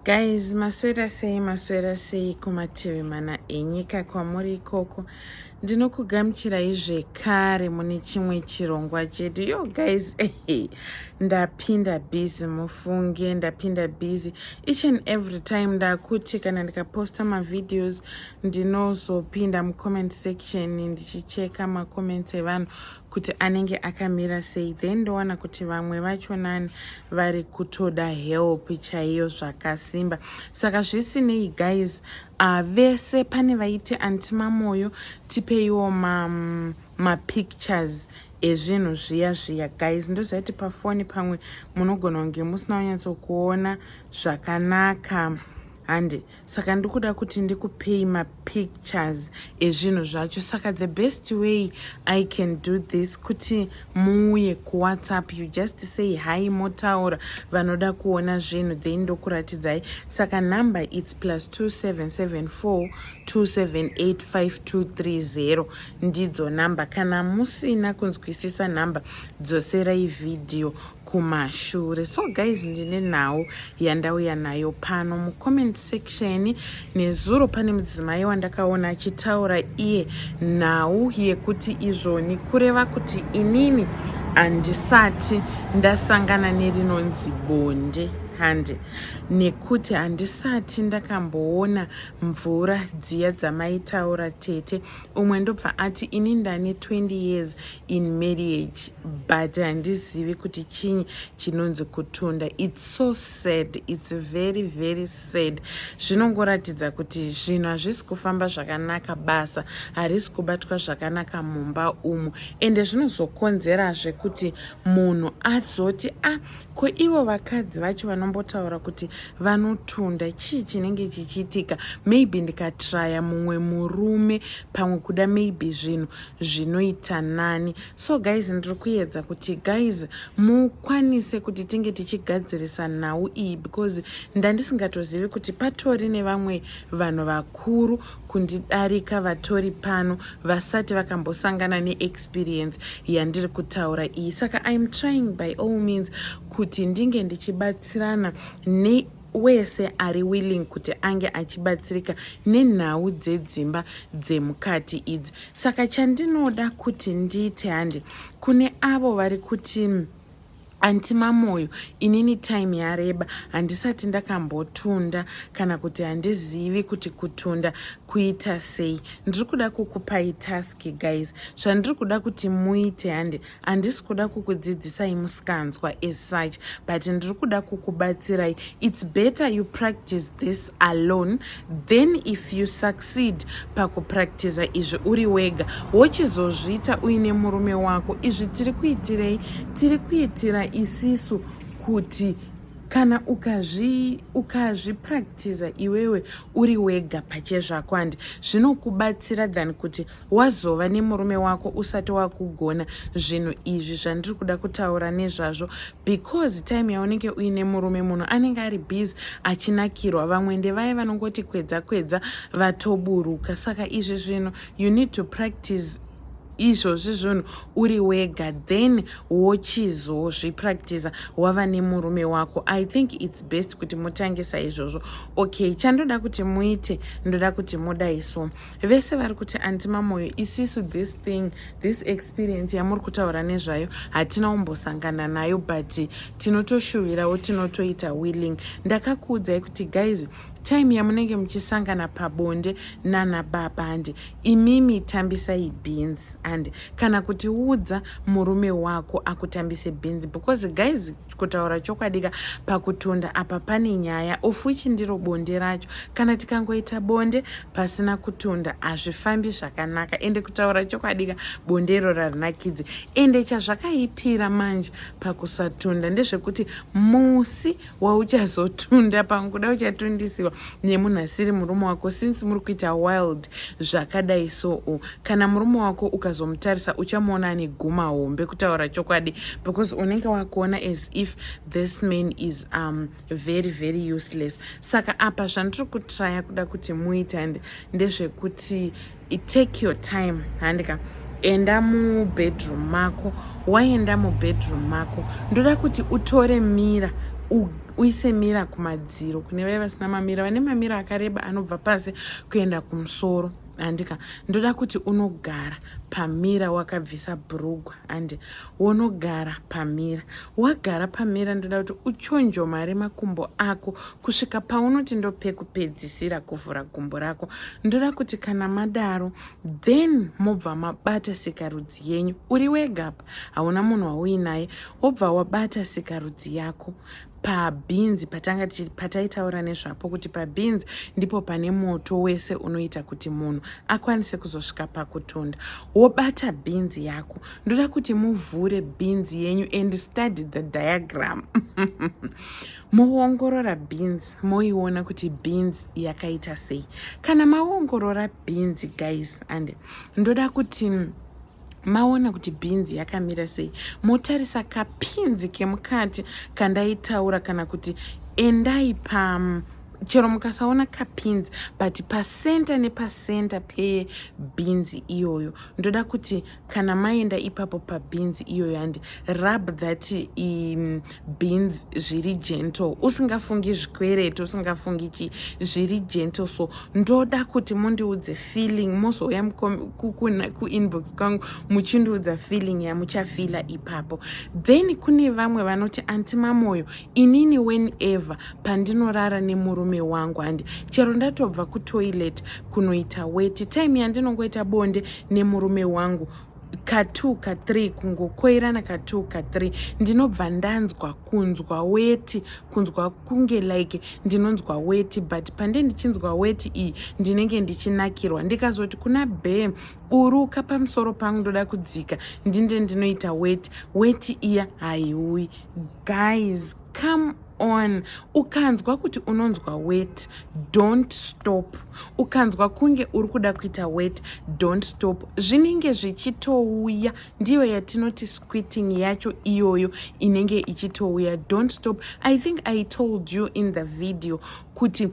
Guys, maswera sei maswera sei kumativi mana enyika kwamuri ikoko. Ndinokugamuchirai zvekare mune chimwe chirongwa chedu. Yo guys, hey, ndapinda busy mufunge, ndapinda busy. Each and every time ndakuti kana ndikaposta mavideos ndinozopinda mucomment section ndichicheka macomment evanhu kuti anenge akamira sei then ndowana kuti vamwe vacho nani vari kutoda help chaiyo zvakasimba saka zvisinei guys uh, vese pane vaiti anti mamoyo tipeiwo mapictures ma ezvinhu zviya zviya guys ndozvaiti pafoni pamwe munogona kunge musina kunyatsokuona zvakanaka hande saka ndikuda kuti ndikupei mapictures ezvinhu zvacho saka the best way i can do this kuti muuye kuwhatsapp you just say hi motaura vanoda kuona zvinhu then ndokuratidzai saka number its plus 2774 278523 ndidzo number kana musina kunzwisisa number dzoserai vhidhiyo kumashure so guys ndine nhau yandauya nayo pano mucomment section nezuro pane mudzimai wandakaona achitaura iye nhau yekuti izvoni kureva kuti inini handisati ndasangana nerinonzi bonde hande nekuti handisati ndakamboona mvura dziya dzamaitaura tete umwe ndobva ati ini ndane 20 years in marriage but handizivi kuti chinyi chinonzi kutunda its so sad its very very sad zvinongoratidza kuti zvinhu hazvisi kufamba zvakanaka basa harisi kubatwa zvakanaka mumba umu ende zvinozokonzerazve kuti munhu azoti a ah, ko ivo vakadzi vacho vanombotaura kuti vanotunda chii chinenge chichiitika maybe ndikatraya mumwe murume pamwe kuda maybe zvinhu zvinoita nani so guys ndiri kuedza kuti guys mukwanise kuti tinge tichigadzirisa nhau iyi because ndandisingatozivi kuti patori nevamwe vanhu vakuru kundidarika vatori pano vasati vakambosangana neexperience yandiri kutaura iyi saka iam trying by all means kuti ndinge ndichibatsirana ne wese ari willing kuti ange achibatsirika nenhau dzedzimba dzemukati idzi saka chandinoda kuti ndiite handi kune avo vari kuti antimamoyo inini time yareba handisati ndakambotunda kana kuti handizivi kuti kutunda kuita sei ndiri kuda kukupai task guys zvandiri kuda kuti muite handi Handisi kuda kukudzidzisai musikanzwa as such but ndiri kuda kukubatsirai. It's better you practice this alone then if you succeed pakupractiza izvi uri wega wochizozviita uine murume wako. Izvi tiri kuitirei? Tiri kuitira isisu kuti kana ukazvipractiza ukazvi iwewe uri wega pachezvako handi zvinokubatsira than kuti wazova nemurume wako usati wakugona zvinhu izvi zvandiri kuda kutaura nezvazvo because time yaunenge uine murume munhu anenge ari busy achinakirwa vamwe ndevaye vanongoti kwedza kwedza vatoburuka saka izvi zvinhu you need to practice izvozvi zvinhu uri wega then wochizozvipractisa wava nemurume wako i think its best kuti mutangisa izvozvo okay chandoda kuti muite ndoda kuti mudai so vese vari kuti anti mamoyo isisu this thing this experience yamuri kutaura nezvayo hatina umbosangana nayo but tinotoshuvirawo tinotoita willing ndakakuudzai kuti guys time yamunenge muchisangana pabonde nana baba andi imimi tambisai beans and kana kuti udza murume wako akutambise beans because guys kutaura chokwadika pakutunda apa pane nyaya of which ndiro bonde racho kana tikangoita bonde pasina kutunda hazvifambi zvakanaka ende kutaura chokwadika bonde iroro harinakidzi ende chazvakaipira manje pakusatunda ndezvekuti musi wauchazotunda pamwe kuda uchatundisiwa nemunhu asiri murume wako since muri kuita wild zvakadai soo kana murume wako ukazomutarisa uchamuona ane guma hombe kutaura chokwadi because unenge wakuona as if this man is um, very very useless saka apa zvandiri kutraya kuda kuti muite and ndezvekuti take your time handika enda mubedroom mako waenda mubedroom mako ndoda kuti utore mira uise mira kumadziro kune vaye vasina mamira vane mamira akareba anobva pasi kuenda kumusoro handika ndoda kuti unogara pamira wakabvisa brugwa and wonogara pamira wagara pamira ndoda kuti uchonjomare makumbo ako kusvika paunoti ndopekupedzisira kuvhura gumbo rako ndoda kuti kana madaro then mobva mabata sikarudzi yenyu uri wegapa hauna munhu wauinaye wobva wabata sikarudzi yako pabhinzi patanga pataitaura nezvapo kuti pabhinzi ndipo pane moto wese unoita kuti munhu akwanise kuzosvika pakutunda wobata bhinzi yako ndoda kuti muvhure bhinzi yenyu and study the diagram moongorora bhinzi moiona kuti bhinzi yakaita sei kana maongorora bhinzi guys and ndoda kuti maona kuti bhinzi yakamira sei motarisa kapinzi kemukati kandaitaura kana kuti endai pam chero mukasaona kapinzi but pasenta nepasenta pebhinzi iyoyo ndoda kuti kana maenda ipapo pabhinzi iyoyo handi rub that um, beans zviri gentle usingafungi zvikwereti usingafungi chi zviri gentle so ndoda kuti mundiudze feeling mozouya kuinbox kwangu muchindiudza feeling yamuchafila ipapo then kune vamwe vanoti anti mamoyo inini whenever pandinorara nemurume wangu handi chero ndatobva kutoilet kunoita weti time yandinongoita bonde nemurume wangu ka 2 ka 3 kungokoirana ka 2 ka 3 ndinobva ndanzwa kunzwa weti kunzwa kunge like ndinonzwa weti but pande ndichinzwa weti iyi ndinenge ndichinakirwa ndikazoti kuna bee buruka pamusoro pangu ndoda kudzika ndinde ndinoita weti weti iya haiuyi guys come on ukanzwa kuti unonzwa wet don't stop ukanzwa kunge uri kuda kuita wet don't stop zvinenge zvichitouya ndiyo yatinoti squitting yacho iyoyo inenge ichitouya don't stop i think i told you in the video kuti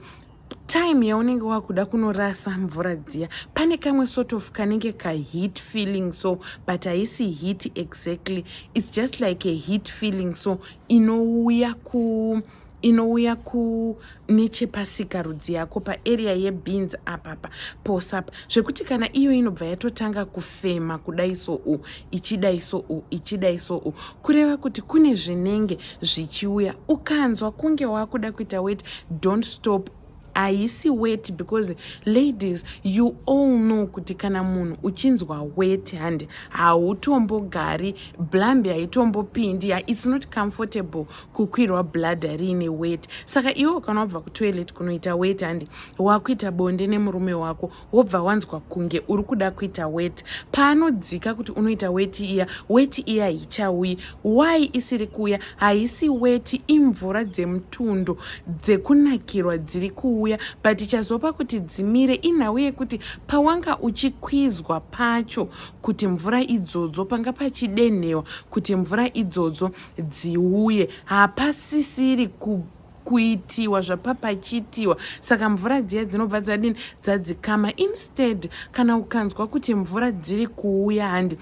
time yaunenge wakuda kunorasa mvura dziya pane kamwe sort of kanenge kaheat feeling so but haisi heat exactly its just like a heat feeling so inouya ku inouya ku nechepasika rudzi yako paarea yebeans apapa posapa zvekuti kana iyo inobva yatotanga kufema kudai so u ichidai soo ichidai soo kureva kuti kune zvinenge zvichiuya ukanzwa kunge wakuda kuita weti don't stop haisi weti because ladies you all know kuti kana munhu uchinzwa weti handi hautombogari blambi haitombopindi ya its not comfortable kukwirwa bladha riine weti saka iwe kana wabva kutoilet kunoita weti handi wakuita bonde nemurume wako wobva wanzwa kunge uri kuda kuita weti paanodzika kuti unoita weti iya weti iya hichauyi why isiri kuuya haisi weti imvura dzemutundo dzekunakirwa dziri kuuya but ichazopa kuti dzimire inhau yekuti pawanga uchikwizwa pacho kuti mvura idzodzo panga pachidenhewa kuti mvura idzodzo dziuye hapasisiri ku kuitiwa zvapapachitiwa saka mvura dziya dzinobva dzadini dzadzikama instead kana ukanzwa kuti mvura dziri kuuya handi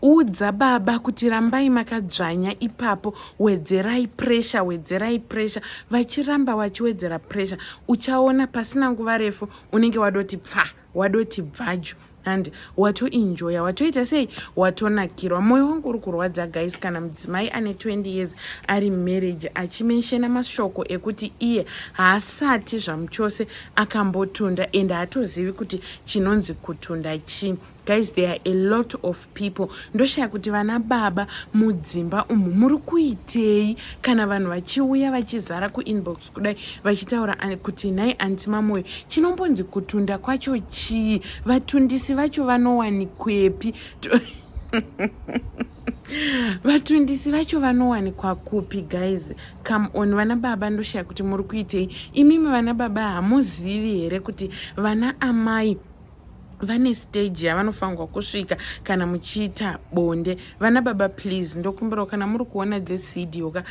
udza baba kuti rambai makadzvanya ipapo wedzerai pressure wedzerai pressure vachiramba vachiwedzera pressure uchaona pasina nguva refu unenge wadoti pfaa wadoti bvaju handi watoinjoya watoita sei watonakirwa mwoyo wangu uri kurwadza guys kana mudzimai ane 20 years ari marriage achimenshena mashoko ekuti iye haasati zvamuchose akambotunda and haatozivi kuti chinonzi kutunda chii guys there are a lot of people ndoshaya kuti vana baba mudzimba umu muri kuitei kana vanhu vachiuya vachizara kuinbox kudai vachitaura kuti nhai anti mamoyo chinombonzi kutunda kwacho chii vatundisi vacho vanowanikwepi vatundisi vacho vanowanikwa kupi guys come on vana baba ndoshaya kuti muri kuitei imimi vana baba hamuzivi here kuti vana amai vane stage yavanofanirwa kusvika kana muchiita bonde vana baba please ndokumbirawo kana muri kuona this video ka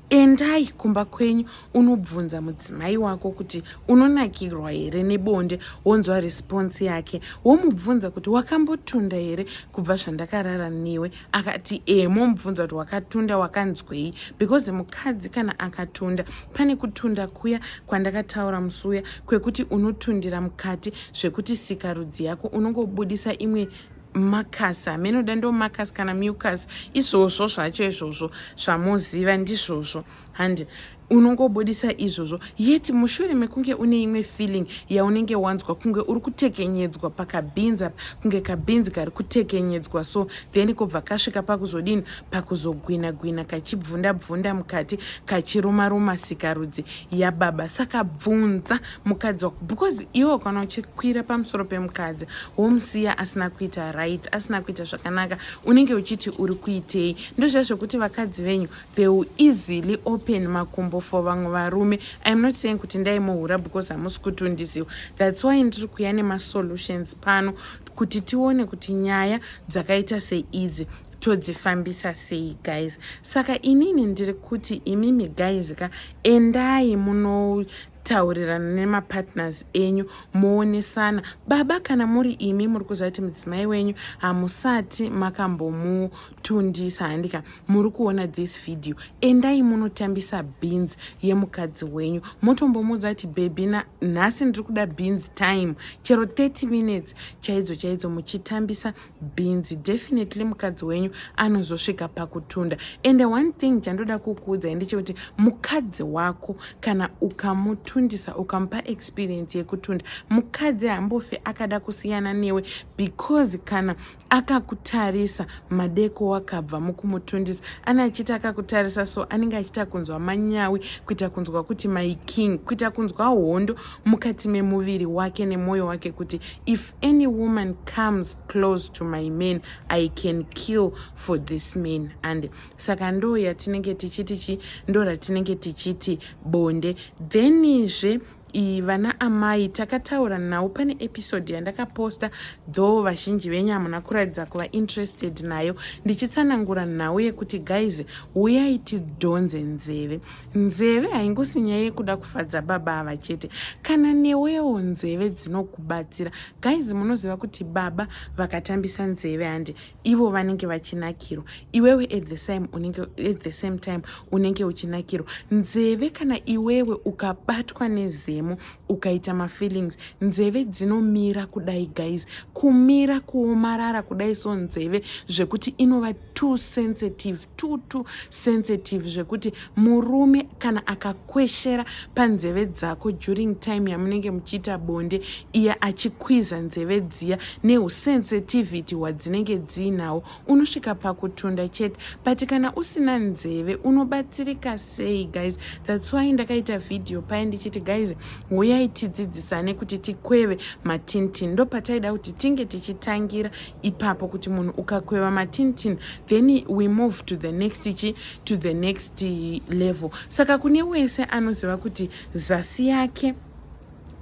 endai kumba kwenyu unobvunza mudzimai wako kuti unonakirwa here nebonde wonzwa response yake womubvunza kuti wakambotunda here kubva zvandakarara newe akati ee momubvunza kuti wakatunda wakanzwei because mukadzi kana akatunda pane kutunda kuya kwandakataura musi uya kwekuti unotundira mukati zvekuti sikarudzi yako unongobudisa imwe makasi hamenoda ndomakasi kana mucus izvozvo zvacho izvozvo zvamoziva ndizvozvo handi unongobudisa izvozvo yet mushure mekunge une imwe feeling yaunenge wanzwa kunge uri kutekenyedzwa pakabhinzi apa kunge kabhinzi kari kutekenyedzwa so then kobva kasvika pakuzodini pakuzogwina gwina kachibvunda bvunda mukati kachiruma ruma sikarudzi yababa saka bvunza mukadzi wako because iwe kana uchikwira pamusoro pemukadzi womusiya asina kuita right asina kuita zvakanaka unenge uchiti uri kuitei ndozviya zvekuti vakadzi venyu they will easily open makumbo for vamwe varume iam not saying kuti ndaimuhura because hamusi kutondiziwa thats why ndiri kuya nemasolutions pano kuti tione kuti nyaya dzakaita seidzi todzifambisa sei guys saka inini ndiri kuti imimi guys ka endai muno taurirana nemapartners enyu moonesana baba kana muri imi muri kuziva kuti mudzimai wenyu hamusati makambomu Tundisa handika muri kuona this video endai munotambisa beans yemukadzi wenyu motombomuudza kuti baby na nhasi ndiri kuda beans time chero 30 minutes chaidzo chaidzo muchitambisa beans definitely mukadzi wenyu anozosvika pakutunda and one thing chandoda kukuudzai ndechekuti mukadzi wako kana ukamutundisa ukamupa experience yekutunda mukadzi hambofi akada kusiyana newe because kana akakutarisa madeko wakabva mukumutundisa ane achiita akakutarisa so anenge achiita kunzwa manyawi kuita kunzwa kuti my king kuita kunzwa hondo mukati memuviri wake nemwoyo wake kuti if any woman comes close to my man i can kill for this man and saka ndoo yatinenge tichiti chi ndo ratinenge tichiti bonde thenizve iyi vana amai takataura nhau pane episode yandakaposta though vazhinji venyu hamuna kuratidza kuva interested nayo ndichitsanangura nhau yekuti guys huyai tidhonze nzeve nzeve haingosi nyaya yekuda kufadza baba ava chete kana newewo nzeve dzinokubatsira guys munoziva kuti baba vakatambisa nzeve handi ivo vanenge vachinakirwa iwewe at the same unenge at the same time unenge uchinakirwa nzeve kana iwewe ukabatwa nezemo ukaita mafeelings nzeve dzinomira kudai guys kumira kuomarara kudai so nzeve zvekuti inova too sensitive tutu sensitive zvekuti murume kana akakweshera panzeve dzako during time yamunenge muchiita bonde iye achikwiza nzeve dziya neusensitivity hwadzinenge dziinahwo unosvika pakutunda chete but kana usina nzeve unobatsirika sei guys thats why ndakaita vhidhiyo paye ndichiti guys huyai tidzidzisane kuti tikweve matintin ndopataida kuti tinge tichitangira ipapo kuti munhu ukakweva matintin then we move to the next chi to the next level saka kune wese anoziva kuti zasi yake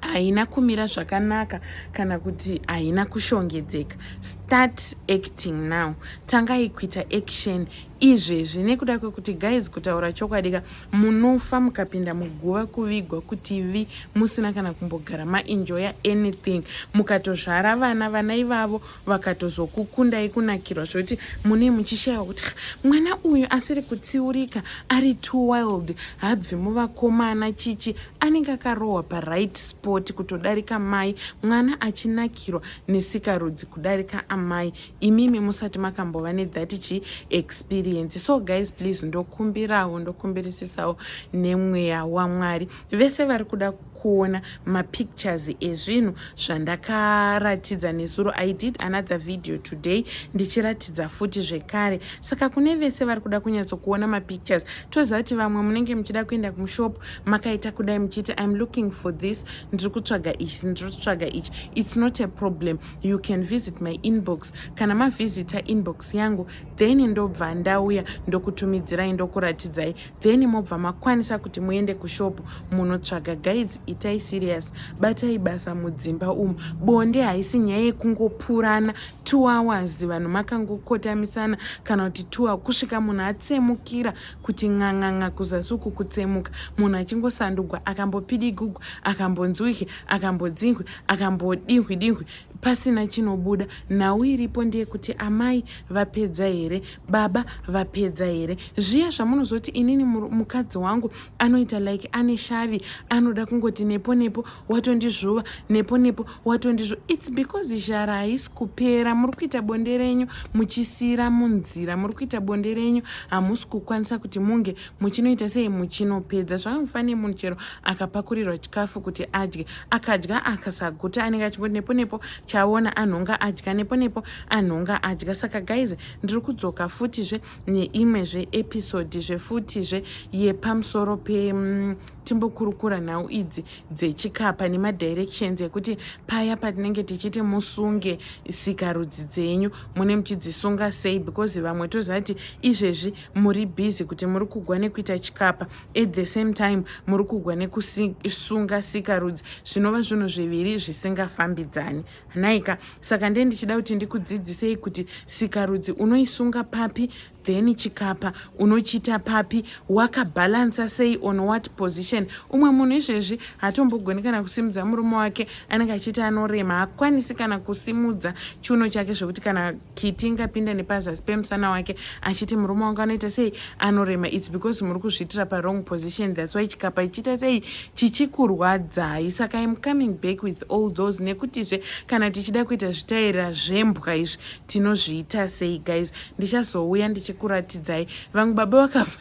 haina kumira zvakanaka kana kuti haina kushongedzeka start acting now tangai kuita action izvezvi nekuda kwekuti guys kutaura chokwadi ka munofa mukapinda muguva kuvigwa kuti vi musina kana kumbogara maenjoya anything mukatozvara vana vana ivavo vakatozokukundai kunakirwa zvekuti mune muchishayiwa kuti mwana uyu asiri kutsiurika ari too wild habvi muvakomana chichi anenge akarohwa paright spot kutodarika mai mwana achinakirwa nesikarudzi kudarika amai imimi musati makambova nethat chi experience so guys please ndokumbirawo ndokumbirisisawo nemweya wamwari vese vari kuda kuona mapictures ezvinhu zvandakaratidza nesuro i did another video today ndichiratidza futi zvekare saka kune vese vari kuda kunyatsokuona mapictures toziva kuti vamwe munenge muchida kuenda kumushop makaita kudai muchiti im looking for this ndiri kutsvaga ichi ndiri kutsvaga ichi its not a problem you can visit my inbox kana mavhizita inbox yangu then ndobva ndauya ndokutumidzirai ndokuratidzai then mobva makwanisa kuti muende kushopu munotsvaga guides itai serious batai basa mudzimba umu bonde haisi nyaya yekungopurana two hours vanhu makangokotamisana kana kuti two kusvika munhu atsemukira kuti ng'ang'ang'a kuzasi uku kutsemuka munhu achingosandugwa akambopidigugwa akambonzwike akambodzinhwe akambodinhwi dinhwi pasina chinobuda nhau iripo ndeyekuti amai vapedza here baba vapedza here zviya zvamunozoti inini mukadzi wangu anoita like ane shavi anoda kungoti nepo nepo watondizvuva nepo nepo watondizvuva its because zhara haisi kupera muri kuita bonde renyu muchisiira munzira muri kuita bonde renyu hamusi kukwanisa kuti munge muchinoita sei muchinopedza zvakamufana nemunhu chero akapakurirwa chikafu kuti adye akadya akasaguta anenge achingoti nepo nepo chaona anhonga adya nepo nepo anhonga adya saka guys ndiri kudzoka futizve neimwe zve episode zvefutizve yepamusoro pe mm, timbokurukura nhau idzi dzechikapa nemadirections ekuti paya patinenge tichiti musunge sikarudzi dzenyu mune muchidzisunga sei because vamwe tozati izvezvi muri busy kuti muri kugwa nekuita chikapa at the same time muri kugwa nekusunga sikarudzi zvinova zvinhu zviviri zvisingafambidzani hanaika saka ndee ndichida kuti ndikudzidzisei kuti sikarudzi unoisunga papi then chikapa unochiita papi wakabhalansa sei on what position umwe munhu izvezvi hatombogoni kana kusimudza murume wake anenge achiita anorema hakwanisi kana kusimudza chiuno chake zvekuti kana Kiti ingapinda nepazasi pemusana wake achiti murume wangu anoita sei anorema its because muri kuzviitira parong position thats why chikapa ichiita sei chichikurwadzai saka im coming back with all those nekutizve kana tichida kuita zvitaira zvembwa izvi tinozviita sei guys ndichazouya ndichikuratidzai vamwe baba vakafa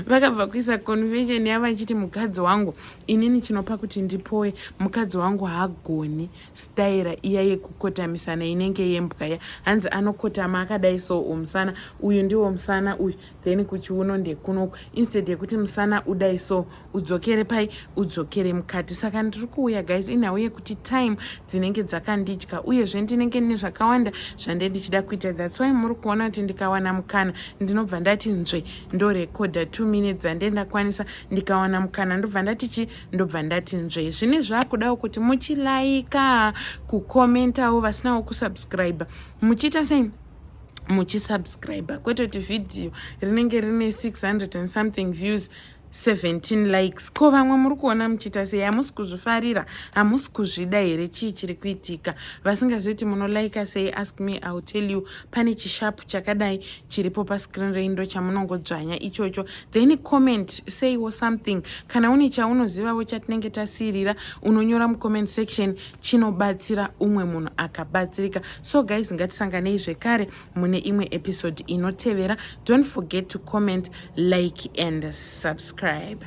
vakabva kuisa convention yava ichiti mukadzi wangu inini chinopa kuti ndipoe mukadzi wangu haagoni staira iya yekukotamisana inenge yembwa ya hanzi anokotama akadai so umusana uyu ndiwo musana uyu then kuchiuno ndekunoku instead yekuti musana udai so udzokere pai udzokere mukati saka ndiri kuuya guys inhau yekuti time dzinenge dzakandidya uyezve ndinenge ndine zvakawanda zvande ndichida kuita thats why muri kuona kuti ndikawana mukana ndinobva ndati nzve ndorekodha two minutes dzande ndakwanisa ndikawana mukana ndobva ndatichi ndobva ndati nzve zvine zvakudawo kuti muchilaika kukomentawo vasinawo kusubscribe muchiita sei muchisubscribe kwete kuti vhidhiyo rinenge rine 600 and something views 17 likes ko vamwe muri kuona muchiita sei hamusi kuzvifarira hamusi kuzvida here chii chiri kuitika vasingazivi kuti munolaika sei ask me ill tell you pane chishapu chakadai chiripo pascreen reindo chamunongodzvanya ichocho then comment seiwo something kana une chaunozivavo chatinenge tasiirira unonyora mucomment section chinobatsira umwe munhu akabatsirika so guys ngatisanganei zvekare mune imwe episode inotevera don't forget to comment like and subscribe